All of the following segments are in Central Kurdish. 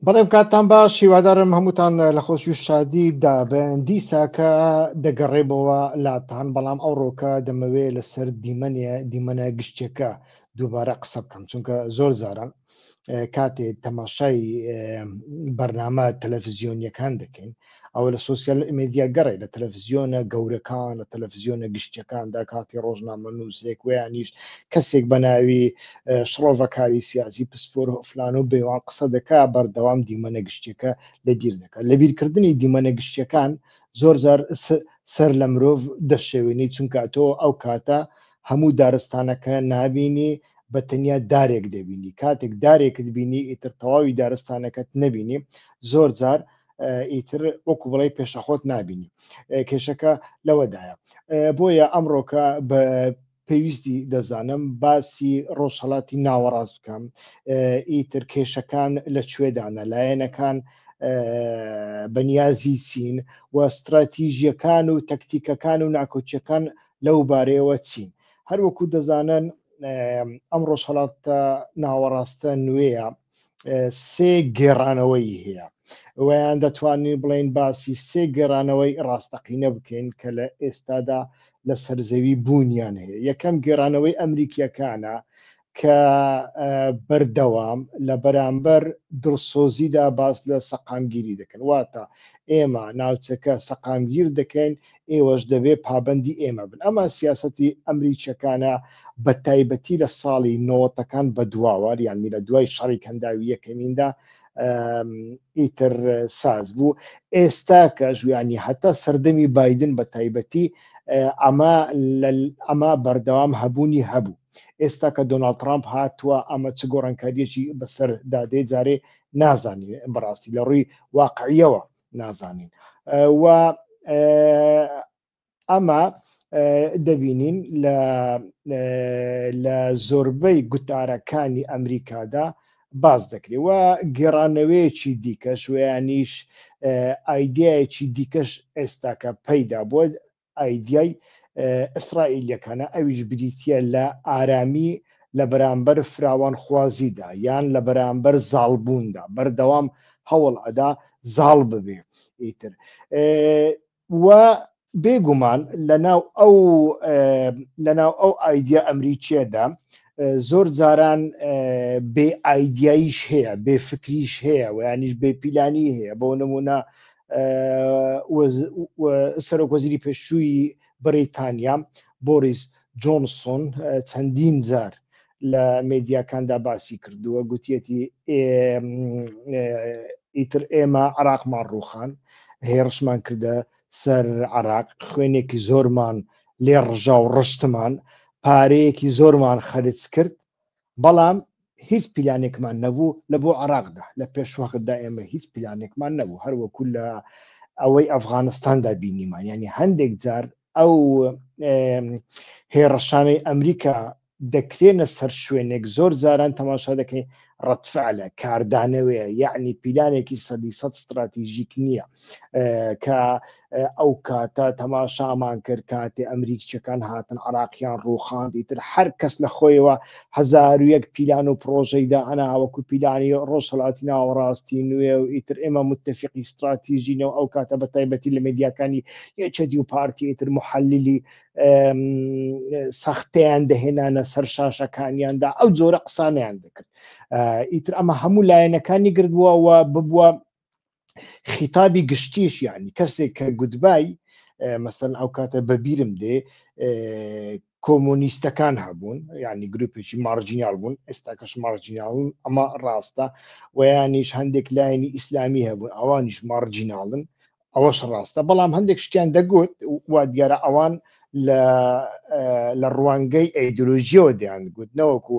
بەڵێم کاتتان باش هیوادارم هەمووتان لە خۆشی و شادی دابن دیساکە دەگەڕێبەوە لاتان بەڵام ئەو ڕۆکە دەمەوێ لەسەر دیمەنێ دیمەنە گشتێکە دووبارە قسە بکەم چونکە زۆر زاران کاتێ تەماشای بەرنامە تەلەفزیۆنیەکان دەکەین ئەوە لە سوسیال میدیا گەڕێ لە تەلەڤزیۆنە گەورەکان لە تەلەڤزیۆنە گشتەکاندا کاتی ڕۆژنامە نووسێک ویانیش کەسێک بە ناوی شڕۆڤەکاری سیاسی پسپۆر فلان و بێوان قسە دەکا بەردەوام دیمەنە گشتەکە لەبیر دەکات لە بیرکردنی دیمەنە گشتەکان زۆر زار سەر لە مرۆڤ دەشێوێنی چونکە تۆ ئەو کاتە هەموو دارستانەکە نبینی بە تەنیا دارێک دەبینی کاتێک دارێکت بینی ئیتر تەواوی دارستانەکەت نبینی زۆر جار ئیتر وەکو بڵێ پێشەخۆت نبینی کێشەکە لەوەدایە بۆیە ئەمڕۆکە بە پێویستی دەزانم باسی ڕۆژهڵاتی ناوەڕاست بکەم ئیتر کێشەکان لە کوێدانە لایەنەکان بەنیازی چین و استراتیژیەکان و تەکتیکەکان و ناکۆچیەکان لەو بارەیەوە چین هەروەکو دەزانن ئەم ڕۆژهڵاتە ناوەڕاستە نوێیە سێ گێڕانەوەی هەیە ئەویان دەتوانین بڵین باسی سێ گێرانەوەی ڕاستەقینە بکەین کە لە ئێستادا لە سەرزەوی بوونیان هەیە یەکەم گێرانەوەی ئەمریکیەکانە کە بەردەوام لە بەرامبەر دڵسۆزیدا باس لە سەقامگیری دەکەن واتە ئێمە ناوچەکە سەقامگیر دەکەین ئێوەش دەبێ پابەندی ئێمە بن ئەمە سیاستی ئەمریکیەکانە بە تایبەتی لە ساڵی نۆتەکان بە دواوار یان میرە دوای شەڕی کەنداوی یەکەمیندا ئیتر ساز بوو ئێستا کە ژویانی هەتا سەردەمی بادن بە تایبەتی ئەمە ئەمە بەردەوام هەبوونی هەبوو ئێستا کە دۆناالد ترامپ هاتووە ئەمە چ گۆڕانکاریەکی بەسەر دادێ جارێ نازانین بەڕاستی لە ڕووی واقعیەوە نازانین و ئەمە دەبینین لە زۆربەی گوتارەکانی ئەمریکادا باز دەکرێت و گێڕانەوەیەکی دیکەش ویانیش ئایدایەکی دیکەش ئێستاکە پەیدا بووە ئایدیای ئیسرائیلیەکانە ئەویش بریتە لە ئارامی لە بەرامبەر فراوانخوازیدا یان لە بەرامبەر زاڵبووندا بەردەوام هەوڵ ئەدا زاڵ ببێ ئیتر و بێگومان لەناو ئەو لەناو ئەو ئایدیا ئەمریکیەدا زۆر جاران بێ ئایداییش هەیە بێ فکریش هەیە و یانیش بێ پیلانی هەیە بۆ نمونە سەرۆک وەزیری پێشووی بەریتانیا بۆریس جۆنسۆن چەندین جار لە مدیاکاندا باسی کردووە گوتیەتی ئیتر ئێمە عراقمان ڕوخان هێڕشمان کردە سەر عراق خوێنێکی زۆرمان لێ ڕژا و ڕشتمان پارەیەکی زۆرمان خەرج کرد بەڵام هیچ پیلانێکمان نەبوو لە بۆ عراقدا لە پێش وەختدا ئێمە هیچ پیلانێکمان نەبوو هەروەکو لە ئەوەی ئەفغانستاندا بینیمان ینی هەندێک جار ئەو هێڕەشانەی ئەمریکا دەکرێنە سەر شوێنێک زۆر جاران تەماشا دەکەین ڕەتفعلە کاردانەوەیە یعنی پیلانێکی سەدی سە استراتیژیک نییە کە ئەو کاتە تەماشامان کرد کاتێ ئەمریکچەکان هاتن عراقیان ڕووخان دیتر هەر کەس لە خۆیەوە هزار و یەک پیلان و پرۆژەیدا ئەناوەکو پیلانی ڕۆژهڵاتی ناوەڕاستی نوێ و ئیتر ئێمە متتەفقی استراتیژینەوە ئەو کاتە بە تایبەتی لە مدیاکانی یەچەدی و پارتی ئیتر محەلیلی سەختیان دەهێنانە سەر شاشەکانیاندا ئەو جۆرە قسانیان دەکرد ئیتر ئەمە هەموو لایەنەکانی گردبووەوە ببووە خیتابی گشتیش یعنی کەسێک کە گوتبای مەسەن ئەو کاتە بەبیرم دێ کۆمۆنیستەکان هەبوون ینی گروپێکی مارجینال بوون ئێستاکەش مارجیناون ئەمە ڕاستە ویانیش هەندێک لایەنی ئیسلامی هەبوون ئەوانیش مارجیناڵن ئەوەش ڕاستە بەڵام هەندێک شتیان دەگوت وا دیارە ئەوان لە ڕوانگەی ئەیدۆلۆژیەوە دەیان گوت نەوەکو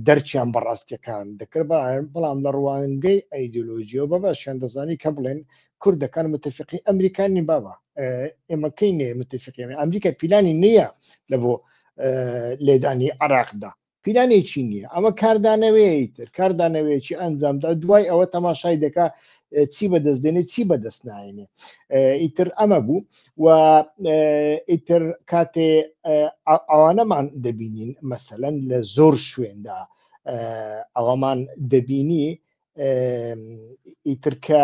دەرچیان بەڕاستیەکان دەکرد بەڵام لە ڕوانگەی ئەیدۆلۆژیەوە بە باشیان دەزانی کە بڵێن کوردەکان متفقی ئەمریکانی بابا ئێمەکەی نێ متفقی ئەمریکا پیلانی نییە لە بۆ لێدانی عراقدا پیلانێکی نییە ئەمە کاردانەوەی تر کاردانەوەیەکی ئەنجامدا دوای ئەوە تەماشای دەکا چی بەدەست دێنێ چی بەدەست نایێنێ ئیتر ئەمە بوو و ئیتر کاتێ ئەوانەمان دەبینین مەسەەن لە زۆر شوێندا ئەوەمان دەبینی ئیترکە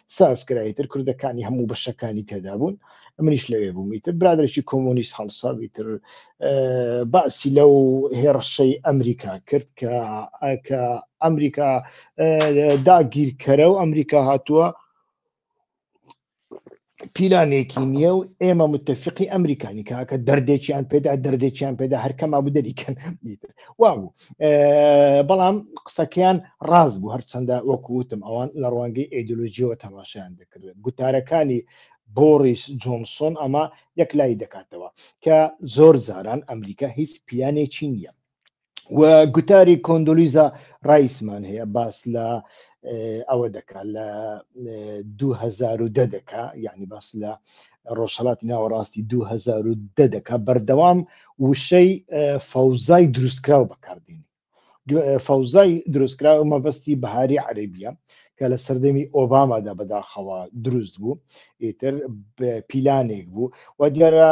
ساز کرا ئیتر کوردەکانی هەموو بەشەکانی تێدا بوون منیش لەوێ بووم ئیتر برادێکی کۆمۆنیست هەڵساوی تر باسی لەو هێڕشەی ئەمریکا کرد کە کە ئەمریکا داگیرکەرە و ئەمریکا هاتووە پیلانێکی نییە و ئێمە متتەفقی ئەمریکانی کاکە دەردێکیان پێدا دەردێکیان پێدا هەرکەما بدەریکەن وا بوو بەڵام قسەکەیان ڕاست بوو هەرچەندە وەکووتم ئەوان لە ڕوانگەی ئەیدۆلۆژیەوە تەماشایان دەکردن گوتارەکانی بۆریس جۆنسۆن ئەمە یەک لای دەکاتەوە کە زۆر جاران ئەمریکا هیچ پیانێکی نییە و گوتاری کۆندۆلیزا ڕایسمان هەیە باس لە ئەوە دەکات لە 2010 دەکا یعنی باس لە ڕۆژهەڵاتی ناوەڕاستی 2010 دەکات بەردەوام وشەی فەوزای دروستکراو بەکاردێنی فەوزای دروستکراو مەبەستی بەهاری عەربیە کە لە سەردەمی ئۆبامادا بەداخەوە دروست بوو ئیتر پیلانێک بوو و دیارە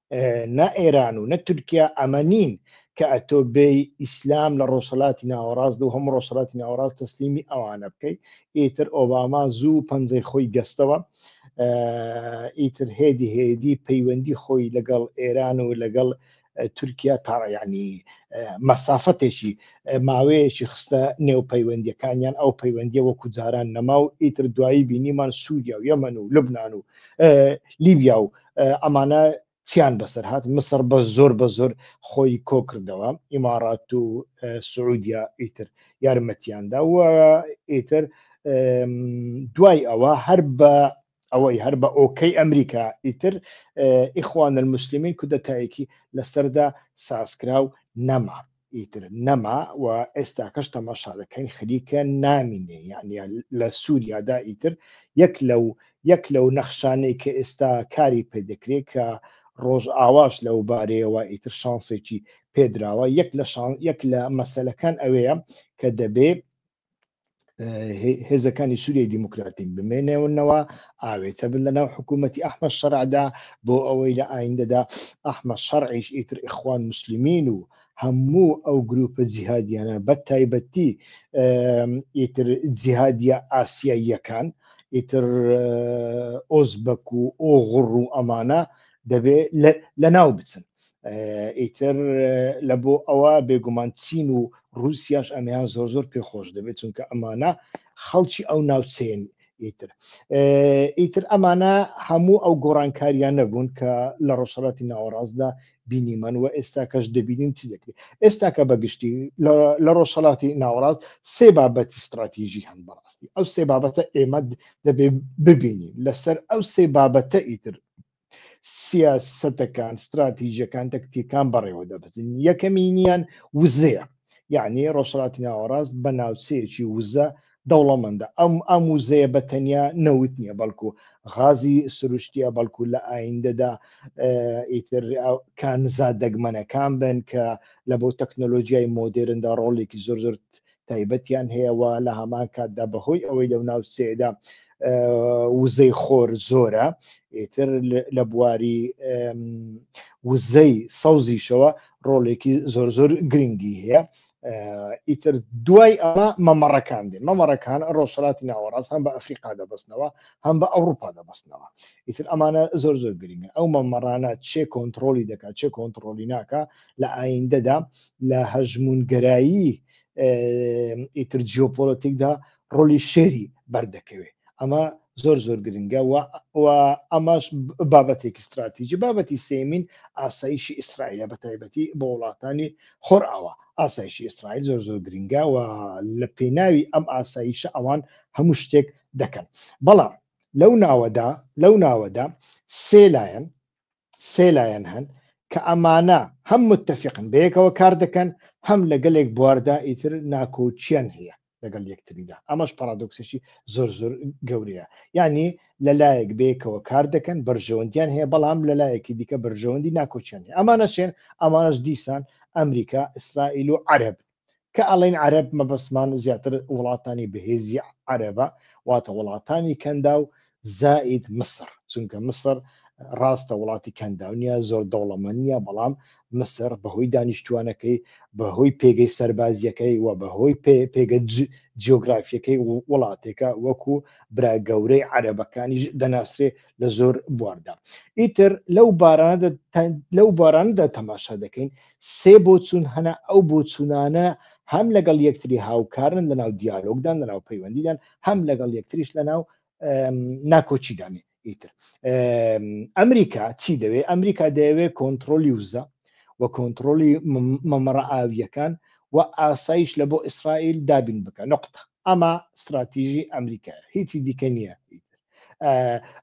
نە ئێران و نە تورکیا ئەمە نین کە ئەتۆ بێ ئیسلام لە ڕۆسەلاتی ناوەڕاست و هەموو ڕۆسەلاتی ناوەڕاست تەسلیمی ئەوانە بکەیت ئیتر ئۆباما زوو پەنجەی خۆی گەستەوە ئیتر هێدی هێدی پەیوەندی خۆی لەگەڵ ئێران و لەگەڵ تورکیا تاڕیانی مەسافەتێکی ماوەیەکی خستە نێو پەیوەندیەکانیان ئەو پەیوەندیە وەکو جاران نەما و ئیتر دوایی بینیمان سووریا و یەمەن و لبناان و لیبیا و ئەمانە چیان بەسەر هاات مسر بە زۆر بە زۆر خۆی کۆکردەوە ئیماڕات و سعودیا ئیتر یارمەتیاندا و ئیتر دوای ئەوە هەر بە ئەوەی هەر بە ئۆکەی ئەمریکا ئیتر ئیخوان المسلمین کودەتایەکی لەسەردا سازکرا و نەما ئیتر نەما و ئێستاکەش تەماشا دەکەین خەریکە نامینێ یعنی لە سووریادا ئیتر یەک لەو یەک لەو نەخشانەی کە ئێستا کاری پێ دەکرێت کە ڕۆژ ئاواش لەو بارەیەوە ئیتر شانسێکی پێدراوە یەک لە شان یەک لە مەسلەکان ئەوەیە کە دەبێ هێزەکانی سووریای دیموکراتیک بمێنێونەوە ئاوێتە بن لە ناو حکوومەتتی ئەحمە شەرعدا بۆ ئەوەی لە ئایندەدا ئەحمە شەڕعیش ئیتر ئیخوان مسللمین و هەموو ئەو گروپە جیهادیانە بە تایبەتی ئیتر جیهادیە ئاسیاییەکان ئیتر ئۆزبەک و ئۆغڕ و ئەمانە دەبێ لە ناو بچن ئیتر لە بۆ ئەوە بێگومان چین و رووسیاش ئەمیان زۆر زۆر پێ خۆش دەبێت چونکە ئەمانە خەڵکی ئەو ناوچەیەن ئیتر ئیتر ئەمانە هەموو ئەو گۆڕانکاریان نەبوون کە لە ڕۆژهڵاتی ناوەڕاستدا بینیمان و ئێستا کەش دەبینین چ دەکرێت ئێستا کە بەگشتی لە ڕۆژهڵاتی ناوەڕاست سێ بابەتی استراتیژی هەن بەڕاستی ئەو سێ بابەتە ئێمە دەبێ ببینین لەسەر ئەو سێ بابەتە ئیتر سیاسەتەکان ستراتیژەکان تەکتیەکان بەڕێوە دەبن یەکەمینیان وزەیە یعنی ڕۆژهڵاتی ناوەڕاست بە ناوچەیەکی وزە دەوڵەمەندە ئەم ئەم وزەیە بە تەنیا نەوت نییە بەڵکو غازی سروشتیە بەڵکو لە ئایندەدا ئیتر کانزا دەگمەنەکان بن کە لە بۆ تەکنۆلۆژیای مۆدرندا ڕۆڵێکی زۆر زۆر تایبەتیان هەیە و لە هەمان کاتدا بەهۆی ئەوەی لەو ناوچەیەدا وزەی خۆر زۆرە ئیتر لە بواری وزەی سەوزیشەوە ڕۆڵێکی زۆر زۆر گرنگی هەیە ئیتر دوای ئەمە مەمەڕەکان دێن مەمەڕەکان ڕۆژهڵاتی ناوەڕاست هەم بە ئەفریقا دەبستنەوە هەم بە ئەوروپا دەبستنەوە ئیتر ئەمانە زۆر زۆر گرنگە ئەو مەمەڕانە چێ کۆنتترۆلی دەکات چێ کۆنتترۆلی ناکە لە ئایندەدا لە هەژمونگەرایی ئیتر جیۆپۆلەتیکدا ڕۆلی شێری بەردەکەوێت ئەمە زۆر زۆر گرنگە و ئەماش بابەتێکی استراتیجی بابەتی سێمین ئاسایشی ئیسرائیلە بە تایبەتی بۆ وڵاتانی خۆرئاوا ئاسایشی ئیسرائیل زۆر زۆر گرنگە و لە پێناوی ئەم ئاسایشە ئەوان هەموو شتێک دەکەن بەڵام لەو ناوەدا لەو ناوەدا سێ لایەن سێ لایەن هەن کە ئەمانە هەم متتەفیقن بەیەکەوە کار دەکەن هەم لە گەلێک بواردا ئیتر ناکۆکیان هەیە لەگەڵ یەکتریدا ئەمەش پارادۆکسێکی زۆر زۆر گەورەیە یعنی لەلایەک بەیەکەوە کار دەکەن بەرژەوەندیان هەیە بەڵام لەلایەکی دیکە بەرژەوەندی ناکۆچیان هەیە ئەمانە چێن ئەمانەش دیسان ئەمریکا ئیسرائیل و عەرب کە ئەڵێن عەرەب مەبەستمان زیاتر وڵاتانی بەهێزی عەرەبە واتە وڵاتانی کەندا و زائید مسر چونکە مسر ڕاستە وڵاتی کەنداونیە زۆر دەوڵەمەنیە بەڵام مسر بەهۆی دانیشتوانەکەی بەهۆی پێگەی سەربازیەکەی و بەهۆی پێگە جیۆگرافیەکەی وڵاتێکە وەکو برا گەورەی عەرەبەکانیش دەناسرێ لە زۆر بواردا ئیتر لەو باراندا لەو باراندا تەماشا دەکەین سێ بۆچوون هەنە، ئەو بۆچوونانە هەم لەگەڵ یەکتری هاوکارن لەناو دیالۆگدان، لەناو پەیوەندیدان، هەم لەگەڵ یەکتریش لەناو ناکۆکیدان. ئیتر ئەمریکا چی دەوێت؟ ئەمریکا دەیەوێت کۆنتترۆلی وزە و کۆنتترۆلی مەمەڕە ئاویەکان و ئاسایش لە بۆ ئیسرائیل دابین بکە نقطە ئەمە استراتیژی ئەمریکا هیچی دیکە نییە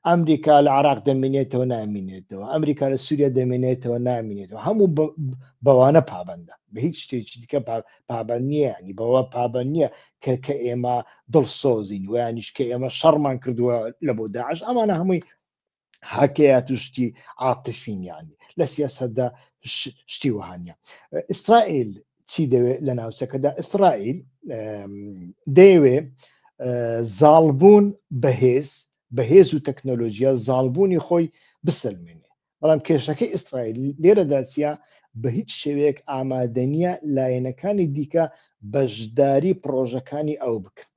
ئەمریکا لە عراق دەمێنێتەوە نامینێتەوە ئەمریکا لە سووریا دەمێنێتەوە نامینێتەوە هەموو بەوانە پابندە بە هیچ شتێکی دیکە پابند نییە ینی بەوە پابند نییە کە کە ئێمە دڵسۆزین ویانیش کە ئێمە شەڕمان کردووە لە بۆ داعش ئەمانە هەمووی هاکەیە توشتی عاتفینیانی لە سیاستدا شتی وهانە ئیسرائیل چی دەوێت لە ناوچەکەدا ئیسرائیل دەیەوێ زاڵبوون بەهێز بەهێز و تەکنۆلۆژیا زاڵبوونی خۆی بسەلمێنێ بەڵام کێشەکەی ئیسرائیل لێرەدا چیا بە هیچ شێوەیەک ئامادەنیە لایەنەکانی دیکە بەشداری پرۆژەکانی ئەو بکەن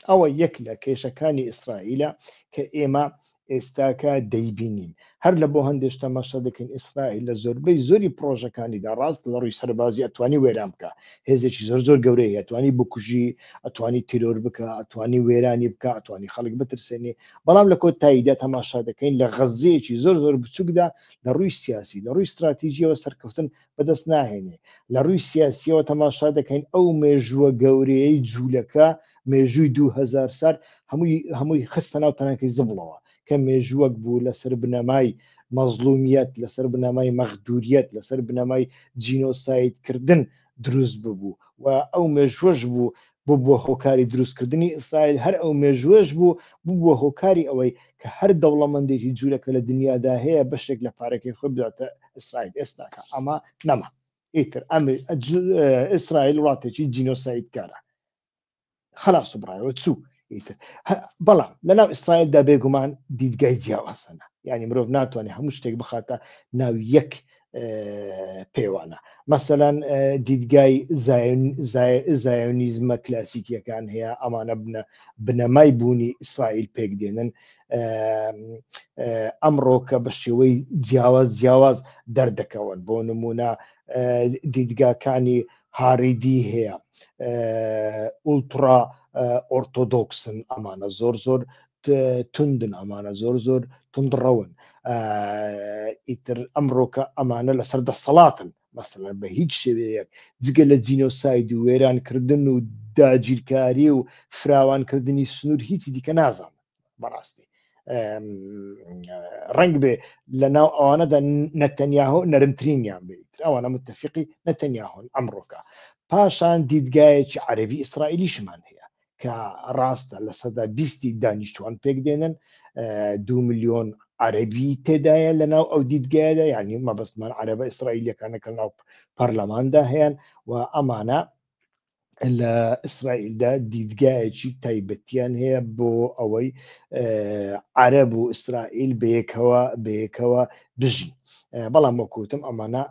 ئەوە یەک لە کێشەکانی ئیسرائیلە کە ئێمە ئێستاکە دەیبینین هەر لە بۆ هەندێک تەماشا دەکەین ئیسرائیل لە زۆربەی زۆری پرۆژەکانیدا ڕاست لە ڕووی سەربازی ئەتوانی وێران بکە هێزێکی زۆر زۆر گەورەی ئەتوانی بکوژی ئەتوانی تیرۆر بکە ئەتوانی وێرانی بکە ئەتوانی خەڵک بترسێنی بەڵام لە کۆتاییدا تەماشا دەکەین لە غەززەیەکی زۆر زۆر بچووکدا لە ڕووی سیاسی لە ڕووی استراتیژیەوە سەرکەوتن بەدەست ناهێنێ لە ڕووی سیاسیەوە تەماشا دەکەین ئەو مێژووە گەورەیەی جوولەکە مێژووی دوهزار سال هەمووی هەمووی خستە ناو تەنەکەی زبڵەوە کە مێژووەک بوو لەسەر بنەمای مەزلومیت لەسەر بنەمای مەخدوریت لەسەر بنەمای جینۆسایدکردن دروست ببوو و ئەو مێژوەش بوو ببووە هۆکاری دروستکردنی ئیسرائیل، هەر ئەو مێژووەش بوو ببووە هۆکاری ئەوەی کە هەر دەوڵەمەندێکی جوولەکە لە دنیادا هەیە بەشێک لە پارەکەی خۆی بداتە ئیسرائیل ئێستاکە ئەمە نەما ئیتر ئەمر ئیسرائیل وڵاتێکی جینۆسایدکارە خلاص و بڕایەوە چوو ئیتر بەڵام لەناو ئیسرائیلدا بێگومان دیدگای جیاوازەنە یعنی مرۆڤ ناتوانێت هەموو شتێک بخاتە ناو یەک پێوانە مەسەەن دیدگای زایۆنیزمە کلاسیکیەکان هەیە ئەمانە بنە بنەمای بوونی ئیسرائیل پێک دێنن ئەمڕۆ کە بە شێوەی جیاواز جیاواز دەردەکەون بۆ نمونە دیدگاکانی هاریدی هەیە ئولترا ئۆرتۆدۆکسن ئەمانە زۆر زۆر توندن ئەمانە زۆر زۆر تندڕەون ئیتر ئەمڕۆکە ئەمانە لەسەر دەسەڵاتن مەسەلەن بە هیچ شێوەیەک جگە لە جینۆساید و وێرانکردن و داگیرکاری و فراوانکردنی سنوور هیچی دیکە نازان بەڕاستی ڕنگ بێ لە ناو ئەوانەدا نەتەنیاهۆ نەرمترینیان بێت ئەوانە متتەفقی نەتەنیاهۆن ئەمڕۆکە پاشان دیدگایەکی عەربی ئیسرائیلیشمان هەیە کە ڕاستە لە سەدا بیستی دانیشتوان پێک دێنن دو میلیۆن عەربی تێدایە لە ناو ئەو دیدگایەدا یعنی مەبستمان عەربە ئیسرائیلەکانە کە ناو پەرلەماندا هەیەن و ئەمانە لە ئیسرائیلدا دیدگایەکی تایبەتیان هەیە بۆ ئەوەی عەرب و ئیسرائیل بەیەکەوە بەیەکەوە بژین بەڵام وەکوتم ئەمانە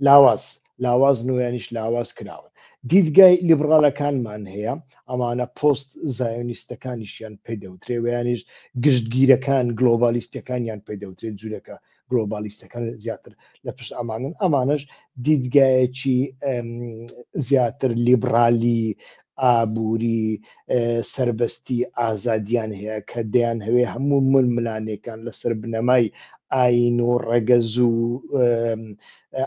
لاواز لاواز نویانیش لاواز کراون دیدگای لیبڕالەکانمان هەیە ئەمانە پۆست زایۆنیستەکانیشیان پێ دەوترێ ویانیش گشتگیرەکان گلۆبالیستەکانیان پێ دەوترێت جوورەکە گلۆبالیستەکان زیاتر لە پشت ئەمانن ئەمانش دیدگایەکی زیاتر لیبرالی ئابووری، سەربەستی، ئازادییان هەیە کە دەیانهەوێ هەموو ململانێکان لەسەر بنەمای ئایین و ڕەگەز و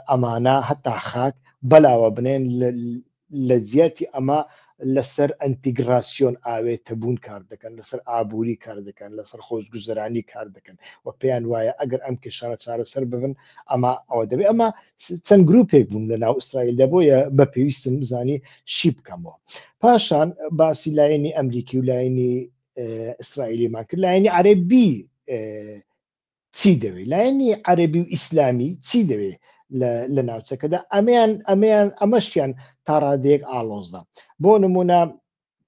ئەمانە هەتا خاک بەلاوە بنێن لە جیاتی ئەمە لەسەر ئەنتیگراسیۆن ئاوێتە بوون کار دەکەن لەسەر ئابووری کار دەکەن لەسەر خۆزگوزرانی کار دەکەن و پێیان وایە ئەگەر ئەم کێشانە چارەسەر ببن ئەمە ئەوە دەبێت ئەمە چەند گرروپێک بوون لە ناو ئیسرائیل دەبۆیە بە پێویستم بزانی شی بکەمەوە پاشان باسی لایەنی ئەمریکی و لایەنی ئیسرائیلیمان کرد لایەنی عەربی چی دەوێت لایەنی عەربی و ئیسلامی چی دەوێت لە ناوچەکەدا ئەمیان ئەمیان ئەمەشیان تا ڕادەیەک ئالۆزە بۆ نمونە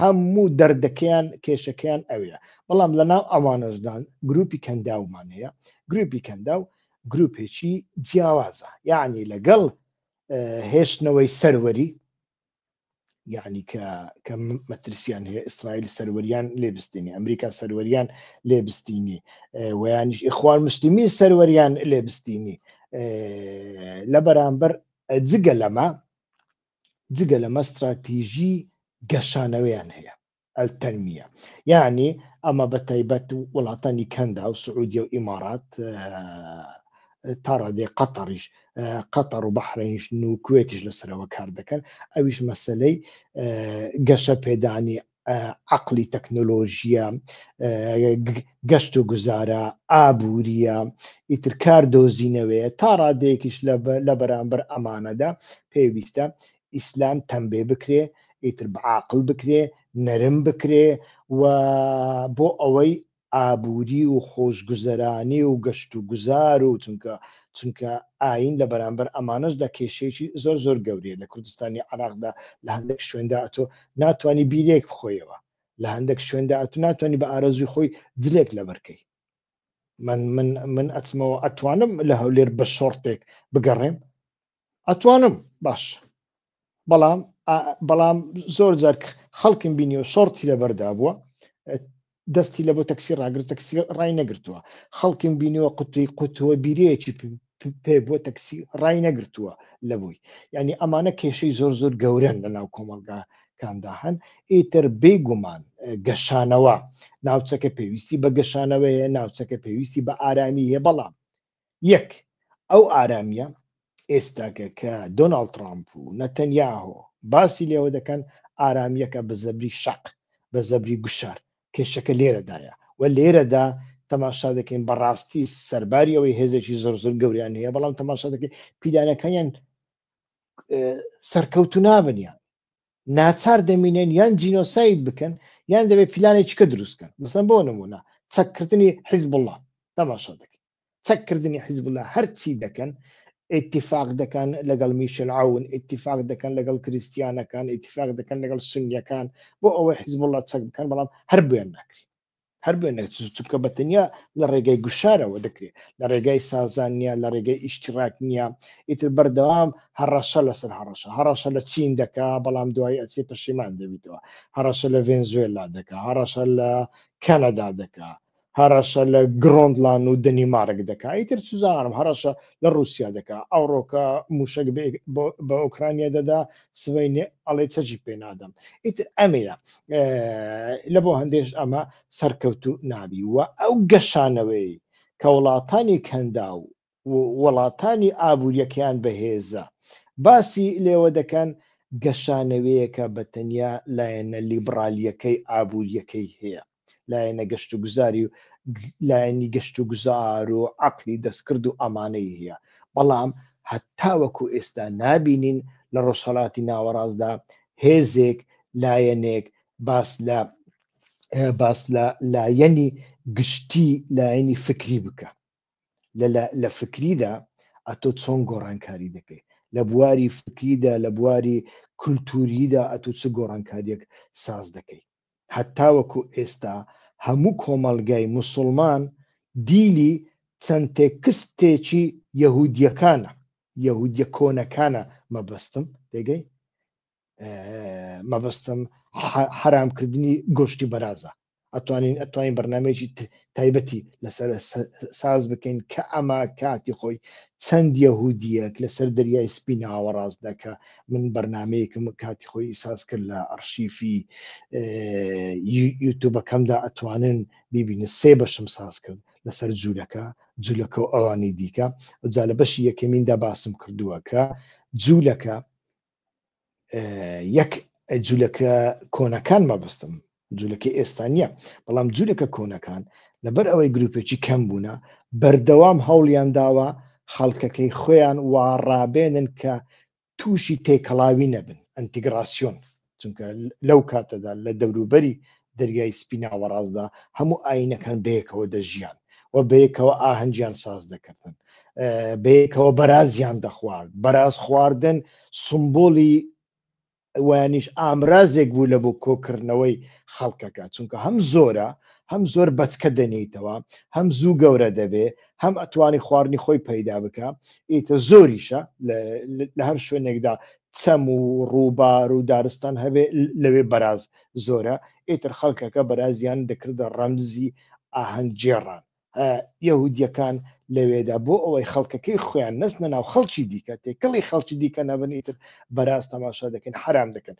هەموو دەردەکەیان کێشەکەیان ئەوەیە بەڵام لە ناو ئەوانەشدان گروپی کەنداومان هەیە گروپی کەنداو گروپێکی جیاوازە یعنی لەگەڵ هێشتنەوەی سەروەری یعنی کە کە مەترسیان هەیە ئیسرائیل سەروەریان لێبستنی ئەمریکا سەروەریان لێبستینی ویانیش ئیخوان مسلمی سەروەریان لێبستینی لە بەرامبەر جگە لەمە جگە لەمە ستراتیژی گەشانەوەیان هەیە، التنمیە، یەعنی ئەمە بە تایبەت وڵاتانی کەندا و سعودیە و ئیمارات تا ڕادەی قەتەڕیش قەتەڕ و بەحرەنیش و کوێتیش لەسەرەوە کار دەکەن ئەویش مەسلەی گەشە پێدانی عەقڵی تەکنۆلۆژییە، گەشت و گوزارە، ئابوورییە، ئیتر کار دۆزینەوەیە، تا ڕادەیەکیش لە بەرامبەر ئەمانەدا پێویستە ئیسلام تەمبێ بکرێ، ئیتر بە عاقڵ بکرێ، نەرم بکرێ و بۆ ئەوەی ئابووری و خۆشگوزەرانی و گەشت و گوزار و چونکە چونکە ئاین لە بەرامبەر ئەمانەشدا کێشەیەکی زۆر زۆر گەورەیە لە کوردستانی عێراقدا لە هەندێک شوێندا ئەتۆ ناتوانی بیرێک بخۆیەوە لە هەندێک شوێندا ئەتو ناتوانانی بە ئارەزوی خۆی جلێک لەبەرکەی من من من ئەچمەوە ئەتوانم لە هەولێر بە شۆڕتێک بگەڕێم ئەتوانم باش بەڵام بەڵام زۆر جارک خەڵکم بینیەوە شۆرتی لەبەردا بووە دەستی لە بۆ تەکسی ڕاگر تەکسی ڕای نەگرتووە خەڵکم بینیوە قوتوی قوتووە بیرەیەکی پێ بۆ تەکسی ڕای نەگرتووە لە بووی ینی ئەمانە کێشەی زۆر زۆر گەورن لە ناو کۆمەلگا کاندا هەن ئیتر بێگومان گەشانەوە ناوچەکە پێویستی بە گەشانەوەیە ناوچەکە پێویستی بە ئارامی هەیە بەڵام یەک، ئەو ئارامییە ئێستاکە کە دۆناڵد ترامپ و نەتەنیاهۆ باسی لێوە دەکەن، ئارامییەکە بە زەبری شەق، بە زەبری گوشار، کێشەکە لێرەدایە و لێرەدا تەماشا دەکەین بە ڕاستی سەرباری ئەوەی هێزێکی زۆر زۆر گەوریان هەیە بەڵام تەماشا دەکەین پیلانەکانیان سەرکەوتو نابنیان ناچار دەمینێن یان جینۆساید بکەن یان دەبێت پیلانێکی کە دروستکەن مەسەن بۆ نمونە چەککردنی حیزب الله تەماشا دەکەن چەککردنی حیزب الله هەرچی دەکەن اتفاق دەکەن لەگەڵ میشل عون اتفاق دەکەن لەگەڵ کریسیانەکان اتفاق دەکەن لەگەڵ سنیەکان بۆ ئەوەی حیزب الله چەک بکەن بەڵام هەر بۆیان ناکرێت هەر بێ نەچوو چونکە بە تەنیا لە ڕێگای گوشارەوە دەکرێت لە ڕێگای سازان نیە لە ڕێگای ئیشتیڕاک نییە ئیتر بەردەوام هەڕەشە لەسەر هەڕەشە هەڕەشە لە چین دەکا بەڵام دوای ئەچێ پەشیمان دەبیتەوە هەڕەشە لە ڤێنزوێلا دەکا هەڕەشە لە کەنەدا دەکا هەڕەشە لە گرۆندلان و دەنیمارک دەکا ئیتر چزانم هەڕەشە لە رووسیا دەکا ئەوڕۆکە موشک بە ئۆکرانیا دەدا سوێنێ ئەڵێ چەجی پێ نادەم ئیتر ئەمەیە لە بۆ هەندێش ئەمە سەرکەوت و نابی وە ئەو گەشانەوەی کە وڵاتانی کەندا و وڵاتانی ئابوووریەکەیان بەهێزە باسی لێوە دەکەن گەشانەوەیەکە بە تەنیا لایەنە لیبرالیەکەی ئابوووریەکەی هەیە لایەنە گەشت و گوزاری و لایەنی گەشت و گوزار و عقلی دەستکرد و ئەمانەی هەیە بەڵام هەتاوەکو ئێستا نابینین لە ڕۆژهڵاتی ناوەڕاستدا هێزێک لایەنێک باس لە باس لە لایەنی گشتی لایەنی فکری بکە لە فکریدا ئەتۆ چۆن گۆڕانکاری دەکەیت لە بواری فکریدا لە بواری کولتوریدا ئەتو چ گۆڕانکاریەک ساز دەکەیت هەتاوەکو ئێستا هەموو کۆمەلگای مسلمان دیلی چەند تێکستێکی یەهودیەکانە یەهودیە کۆنەکانە مەبەستم دەگەی مەبەستم حرام کردنی گۆشتی بەرازە ئەتوانین ئەتوانین بەرنمەیەکی تایبەتی لەسەر ساز بکەین کە ئەمە کاتی خۆی چەند یەهودیەک لەسەر دەریای سپی ناوەڕاست دەکە من بەرنمەیەکم کاتی خۆی ساز کرد لە ئەرشیفی یوتوبەکەمدا ئەتوانن بیبینە سێ بەشم ساز کرد لەسەر جوولەکە جوولەکە و ئەوانی دیکە جا لە بەشی یەکەمیندا باسم کردووە کە جوولەکە یەک جوولەکە کۆنەکان مەبستم جوولەکە ئێستا نییە بەڵام جوولەکە کۆنەکان لەبەر ئەوەی گروپێکی کەم بوونە بەردەوام هەوڵیان داوە خەڵکەکەی خۆیان وا ڕابێنن کە تووشی تێکەڵاوی نەبن ئەنتیگراسیۆن چونکە لەو کاتەدا لە دەوروبەری دەریای سپی ناوەڕاستدا هەموو ئاینەکان بەیەکەوە دەژیان و بەیەکەوە ئاهەنگیان ساز دەکردن بەیەکەوە بەرازیان دەخوارد بەراز خواردن سمبولی وانیش ئامرازێک بوو لە بۆ کۆکردنەوەی خەڵکەکە چونکە هەم زۆرە هەم زۆر بەچکە دەنیتەوە هەم زوو گەورە دەبێ هەم ئەتوانی خواردنی خۆی پەیدا بکە ئیتە زۆریشە لە هەر شوێنێکدا چەم و ڕووبار و دارستان هەبێ لەوێ بەراز زۆرە ئیتر خەڵکەکە بەرازیان دەکردە ڕەمزی ئاهەنگ گێڕان هە یەهودیەکان لەوێدا بۆ ئەوەی خەڵکەکەی خۆیان نەستنە ناو خەڵکی دیکە تێکەڵی خەڵکی دیکە نەبن ئیتر بەراز تەماشا دەکەن حرام دەکەن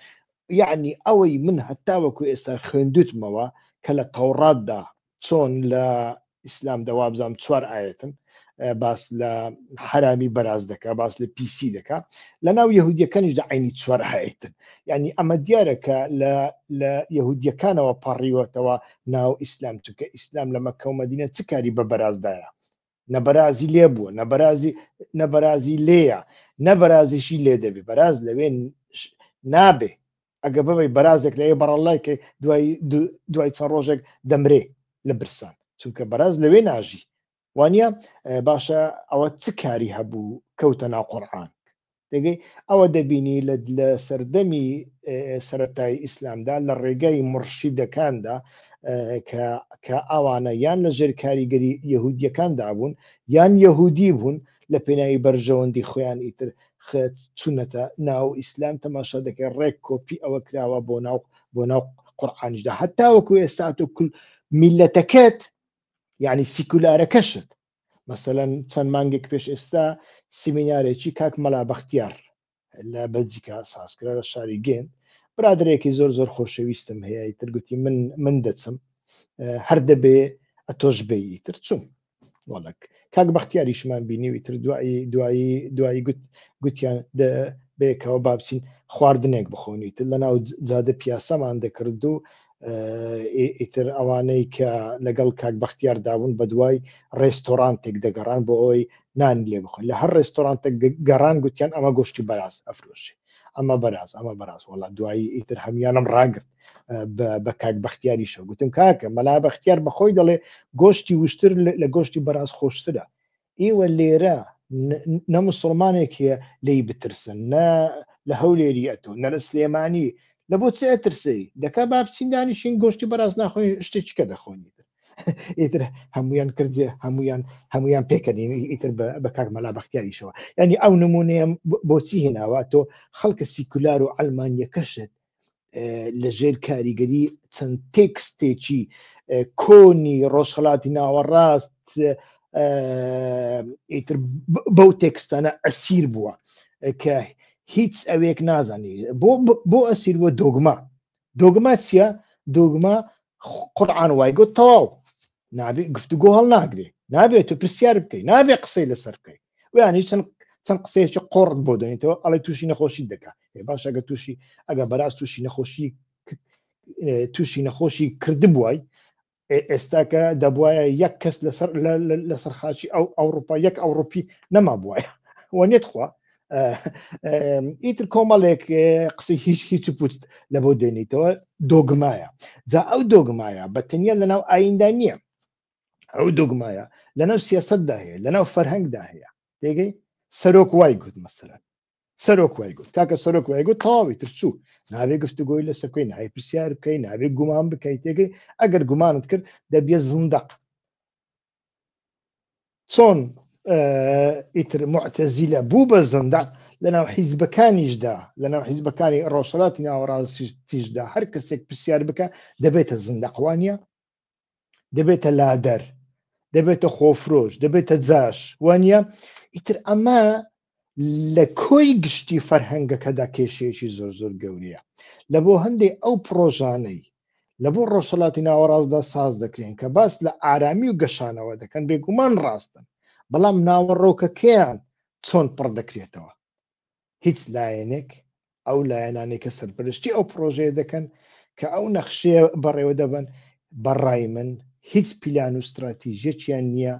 یعنی ئەوەی من هەتاوەکو ئێستا خوێندوتمەوە کە لە تەوڕاتدا چۆن لە ئیسلام دە وابزانم چوار ئاەتن باس لە حرامی بەراز دەکە باس لە پیسی دەکە لە ناو یهودیەکانیش دە عینی چوار هەیتن ینی ئەمە دیارە کە لە لە یهودیەکانەوە پەڕیوەتەوە ناو ئیسلام چونکە ئیسلام لەمە کەومەدینە چ کاری بە بەرازدایە نەبەرازی لێ بووە نەبەرازی نەبەرازی لێە نەبەرازیشی لێ دەبێ بەراز لەوێ نابێ ئەگە ببی بەرازێک لە بەڕەڵای کە دوای دوای چەند ڕۆژێک دەمرێ لە برسان چونکە بەراز لەوێ ناژی وانە باشە ئەوە چ کاری هەبوو کەوتە ناو قڕان دەگەی ئەوە دەبینی لە سەردەمی سەتای ئیسلامدا لە ڕێگای مڕشیدەکاندا کە ئەوانە یان لە ژێر کاریگەری یهودیەکاندا بوون یان یهودی بوون لە پێناوی بەرژەوەندی خۆیان ئیتر خێت چونەتە ناو ئیسلام تەماشا دەکەی ڕێک کۆپی ئەوە کراوە بۆ ناو بۆ ناو قورآانیشدا هەتا وەکو ئێستا تۆ کل میلەتەکەت یعنی سیکولارەکەشت مەسەەن چەند مانگێک پێش ئێستا سیمینارێکی کاک مەلا بەختیار لە بەلجیکا سازکرا لە شاری گێن برادرێکی زۆر زۆر خۆشەویستم هەیە ترگوتی من من دەچم هەر دەبێ ئەتۆش بێی تر چوم وڵک کاک بەختیاریشمان بینیوی تر دوایی دوایی دوایی گوت گوتیان بێکەوە بابچین خواردنێک بخۆنیت لە ناو جادە پیاسەمان دەکرد و ئیتر ئەوانەی کە لەگەڵ کاک بەختیار دابوون بە دوای ڕێستۆرانتێک دەگەڕان بۆ ئەوی نان لێ بخۆن لە هەر ڕێستۆرانتێک گەڕان گوتیان ئەمە گۆشتی بەراز ئەفرۆشی ئەمە بەراز ئەمە بەراز وڵا دوایی ئیتر هەمیانم ڕاگرت بە کاک بەختیاری شە گوتم کاکە مەلا بەختیار بەخۆی دەڵێ گۆشتی وشتر لە گۆشتی بەراز خۆشترە ئیوە لێرە نە مسلمانێکە لی بترسن نە لە هەولێری ئەتۆ نە لە سلێمانی لە بۆ چ ئەترسی دەکا با بچین دانیشین گۆشتی بەراز ناخۆین شتێککە دەخۆنی ئیتر هەمویان کردێ هەمویان هەمویان پێکەنین ئیتر بە کاک مەلا بەختیاریشەوە ینی ئەو نمونەیە بۆچی هێناوە تۆ خەڵکە سیکولار و ئەلمانیەکەشت لە ژێر کاریگەری چەند تێکستێکی کۆنی ڕۆژهڵاتی ناوەڕاست ئیتر بەو تێکستانە ئەسیر بووە کە هیچ ئەوێک نازانی بۆ بۆ ئەسیر بۆ دۆگما دۆگما چییە دۆگما قڕان وای گوت تەواو نابێ گفتوگۆ هەڵناگرێ نابێت تو پرسیار بکەی نابێ قسەی لەسەر بکەی ویان هیچ چەند چەند قسەیەکی قۆڕت بۆ دەێنێتەوە ئەڵێ تووشی نەخۆشی دەکات باش ئەگە تووشی ئەگە بەراز تووشی نەخۆشی تووشی نەخۆشی کردبووای ئێستاکە دەبواە یەک کەس لەسەر لەسەر خاچی ئەو ئەوروپا یەک ئەوروپی نەما بواە وە نێتخوا ئیتر کۆمەڵێک قسەی هیچ هیچ پوت لە بۆ دێنیتەوە دۆگمایە جا ئەو دۆگمایە بە تەنیا لەناو ئایندا نییە ئەو دۆگمایە لەناو سیاستدا هەیە لەناو فەرهەنگدا هەیە دەگەی سەرۆک وای گوت مەسەرە سەرۆک وای گوت کاکە سەرۆک وای گوت تەواوی تر چوو ناوێ گفتوگۆی لە سەکەی نای پرسیار بکەی ناوێ گومان بکەیت تێگەی ئەگەر گومانت کرد دەبیە زندق چۆن ئیتر معتەزیلە بوو بە زەندان لەناو حیزبەکانیشدا لەناو حیزبەکانی ڕۆژهڵاتی ناوەڕاستیشدا هەر کەسێک پرسیار بکە دەبێتە زندەقوانیە دەبێتە لادەر دەبێتە خۆفرۆش دەبێتە جاش وانە ئیتر ئەمە لە کۆی گشتی فەرهەنگەکەدا کێشەیەکی زۆر زۆر گەورەیە لە بۆ هەندێک ئەو پرۆژانەی لە بۆ ڕۆژهڵاتی ناوەڕاستدا ساز دەکرێن کە باس لە ئارامی و گەشانەوە دەکەن بێگومان ڕاستن بەڵام ناوەڕۆکەکەیان چۆن پڕ دەکرێتەوە هیچ لایەنێک ئەو لایەنانەی کە سەرپەرشتی ئەو پرۆژەیە دەکەن کە ئەو نەخشەیە بەڕێوە دەبن بەڕای من هیچ پیلان و استراتیژێکیان نییە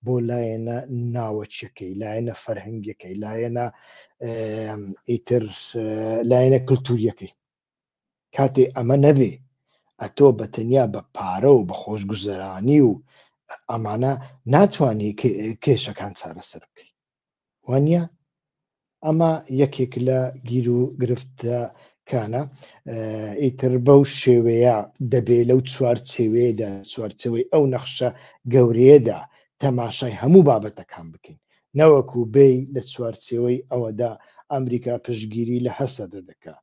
بۆ لایەنە ناوەچەکەی لایەنە فەرهنگەکەی لایەنە ئیتر لایەنە کللتوریەکەی کاتێ ئەمە نەبێ ئەتۆ بە تەنیا بە پارە و بە خۆشگوزەرانی و ئەمانە ناتوانانی کێشەکان چارەسەر بکەیت وانە ئەمە یەکێک لە گیر و گرفتە کانە ئیتر بەو شێوەیە دەبێ لەو چوارچێوێدا چوارچەوەی ئەو نەخشە گەورەیەدا تەماشای هەموو بابەتەکان بکەین نەوەکو بێ لە چوارچێوەی ئەوەدا ئەمریکا پشگیری لە هەسەدە دەکات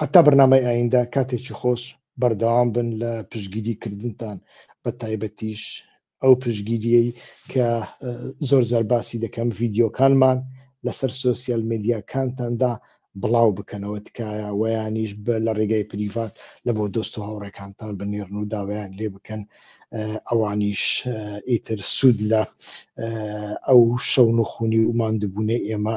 هەتا بەرنامەی ئایندە کاتێکی خۆش بەردەوام بن لە پشگیری کردنتان بە تایبەتیش ئەو پشگیریەی کە زۆر زار باسی دەکەم ڤیددیوکانمان لەسەر سوسیال میدیاکانتاندا بڵاو بکەنەوە تکایە ویانیش بە لە ڕێگای پریڤات لە بۆ دۆست و هاوڕێکانتان بنێرن و داوایان لێ بکەن ئەوانیش ئیتر سوود لە ئەو شەون و خونی و مادبوونەی ئێمە